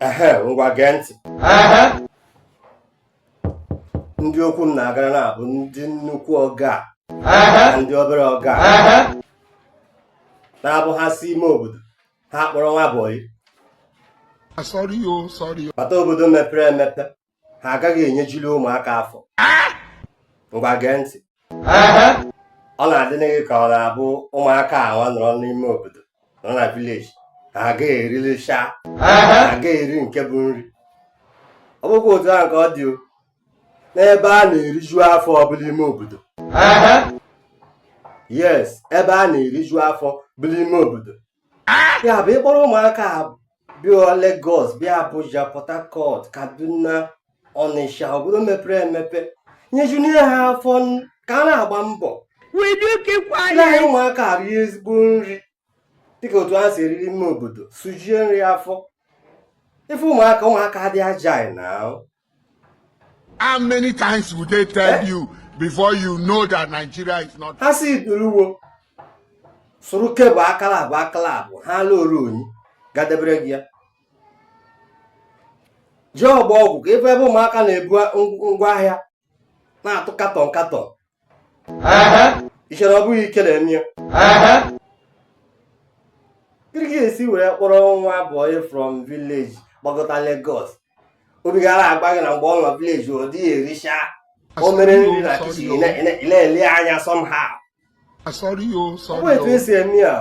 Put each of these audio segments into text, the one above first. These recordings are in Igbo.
ehe ngwa gee ntị ndị okwu m na-agara na-abụ ndị nnukwu ọga na ndị obere ọga na-abụ ha si ime obodo ha kpọrọ nwa bọyị Sorry, oh, sorry. bata obodo mepere emepe ha agaghị enyejili ụmụaka afọ ngwa gee ntị ọ na-adị nụ gị ka ọ na-abụ ụmụaka awa nọrọ n'ime obodo nọ na vileji ha agaghị erilisha ha agaghị eri nke bụ nri ọ bụkwa otu ahụ ka ọ dị n'ebe a na-eriju afọ bụ n'ime obodo yes ebe a na-eriju afọ bụ n'ime obodo ya bụ ị kpọrọ ụmụaka bịa Lagos bịa Abuja Port Harcourt Kaduna Ọnịsha obodo mepere emepe nyejunie ha afọ ka a na-agba mbọ anyị ụmụaka rie ezigbo nri dịka otu ha si eri n'ime obodo sujie nri afọ ife ụmụaka ụmụaka adị agile now How many times would they tell eh? you before you know that Nigeria is not? Ha si duruwo sụrụ kebụ akala abụ akala abụ ha ala oru onyi gadebere gị ya ji ọgba ọgwụ ka ebe ebe ụmụaka na-ebu ngwa ahịa na-atụ katọn katọn i chere ọ bụghị ike na-eme ya gịnị ka e si were kpọrọ nwa bọyị from village gbagọta Lagos obi gị ana-agwa gị na mgbe ọ nọ village ọ dịghị ericha o mere nri na kichin na-ele anya somehow ọ bụ etu e si eme ya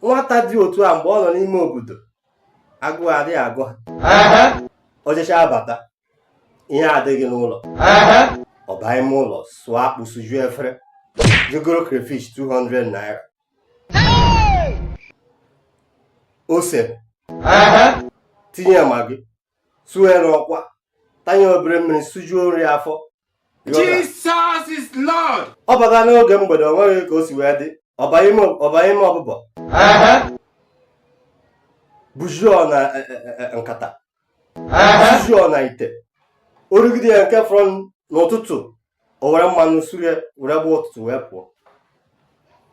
nwata dị otu a mgbe ọ nọ n'ime obodo agụụ adịghị agụ ha o jechaa bata ihe adịghị n'ụlọ ọ baa ime ụlọ sụọ akpụ sujuo efere jee goro crayfish 200 naira ose tinye ya magị sụọ ya n'ọkwa tanye obere mmiri sujuo nri afọ Jesus is Lord. ọ bata n'oge mgbede o nweghị ka o si wee dị ọ baa ime ọ baa ime ọbụbọ bujuo na e, e, e, e, nkata sijuo n'ite o rigide ya nke fọrọ n'ụtụtụ o were mmanụ suru ya were gbaa ụtụtụ wee pụọ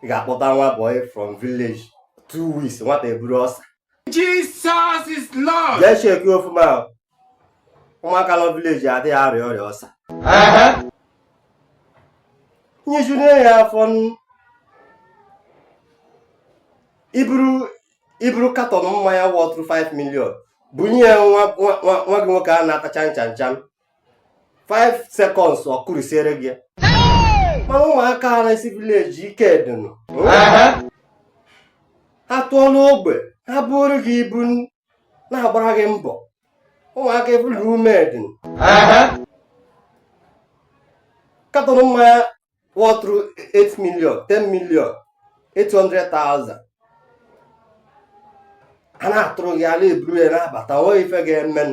ị ga-akpọta nwa boy from village two weeks nwata eburu ulcer Jesus is Lord. jee cheki ọfụma ahụ. ụmụaka nọ vileji adịghị arịa ọrịa ulcer nyejuru ya afọ n- iburu iburu katọn mmanya wọtụrụ 5 million bunye ya nwa nwa- nwa- nwa gị nwoke a na-ata chanchanchan 5 seconds ọ kụrisiere gị ya. mana ụmụaka a na-esi village ike dịnụ ha tụọ n'ogbe ha buuru gị ibu n- na-agbara gị mbọ ụmụaka ebulu ume dịnụ katọn mmanya wọtụrụ 8 million 10 million 800,000 a na-atụrụ gị a na-eburu ya na-abata o nweghị ife ga-eme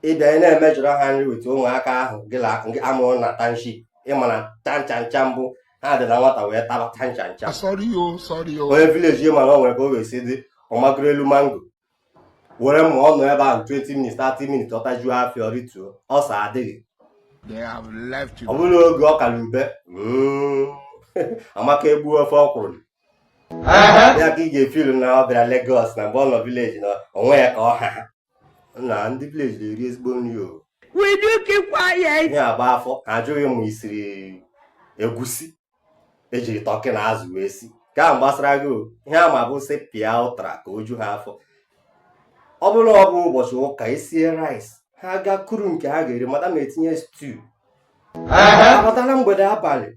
ị bịa ị na-emejọrọ ha nri weta ụmụaka ahụ gị na gị a mụrụ na township ị ma na chanchancha mbụ ha dị na nwata wee taba chanchancha Sorry o, sorry o. onye village ị ma na o nwere ka o wee si dị ọ magoro elu mango were ma ọ nọ ebe ahụ 20 minutes 30 minutes ọ tajuo afọ ọ rituo ulcer adịghị ọ bụrụ oge ọka na ube mm, amaka egbuo ofe ọkwụrụ ya ka ị ga-efilu na ọ bịara Lagos na mgbe ọ nọ village na o nwee ka ọ ha na ndị village na-eri ezigbo nri o ya agba afọ ajụghị ma i siri egusi e jiri turkey na azụ wee si nke ahụ gbasara gị ihe ha ma bụ sụpịa ụtara ka o ju ha afọ ọ bụrụ na ọ bụ ụbọchị ụka e sie rice ha gaa kuru nke ha ga-eri madam etinye stew a bata na mgbede abalị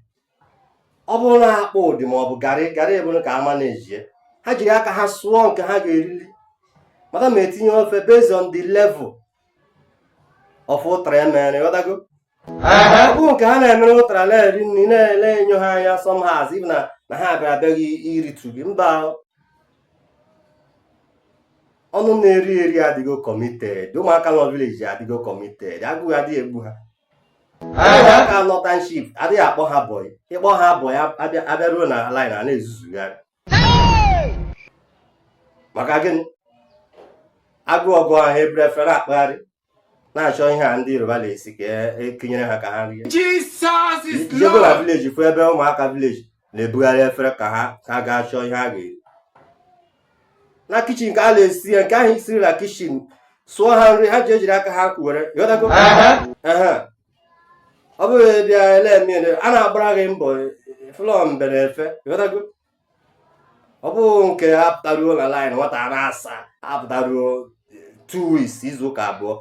ọ bụrụ na akpụ dị ma ọ bụ garị garị ọ bụrụ ka ha ma na-ejie ha jiri aka ha sụọ nke ha ga-erili madam etinye ofe based on the level of ụtara e mere ị ghọtago nke ha na-emere ụtara na-eri nri na-ele enyo ha anya somehow ibu na na ha bịara abịa iritu gị mba ọnụ na-eri eri adịgo committed ụmụaka nọ village adịgo committed agụụ adịghị egbu ha ụmụaka nọ township adịghị akpọ ha boy ị kpọ ha boy a bịaruo na line ha na-ezuzugharị maka gịnị agụụ gụọ ha eburu efere akpagharị na-achọ ihe a ndị yoruba na-esi ka e kunyere ha ka ha rie Jesus is i jego na Lord. village fụ ebe ụmụaka village na-ebugharị efere ka ha ka ha gaa chọọ ihe ha ga-eri na kitchen ka a na-esi ya nke ahụ e siri na kitchen sụọ ha nri ha ejiri aka ha kuwere ị ghọtago Ehe. ọ bụghị bịa ele eme ele, a na-agbara gị mbọ flọ mbe na efe ị ghọtago ọ bụ nke a pụtaruo na line nwata a na-asa apụtaruo two weeks izu ụka abụọ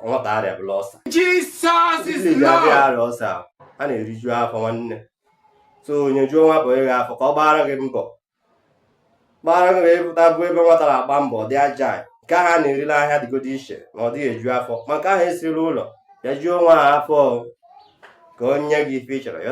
nwata arịabala ulcer Jesus is Lord arịa ulcer a na-eriju afọ nwanne so nyejuo nwa boy gị afọ ka ọ gbara gị mbọ gbara gị ị pụta fụ ebe nwata na-agba mbọ dị aja nke ahụ a na-eri n'ahịa dịgodi iche na ọ dịghị eju afọ ma nke ahụ e siri n'ụlọ ya juo nwa ahụ afọ ka o nye gị ife ị chọrọ ya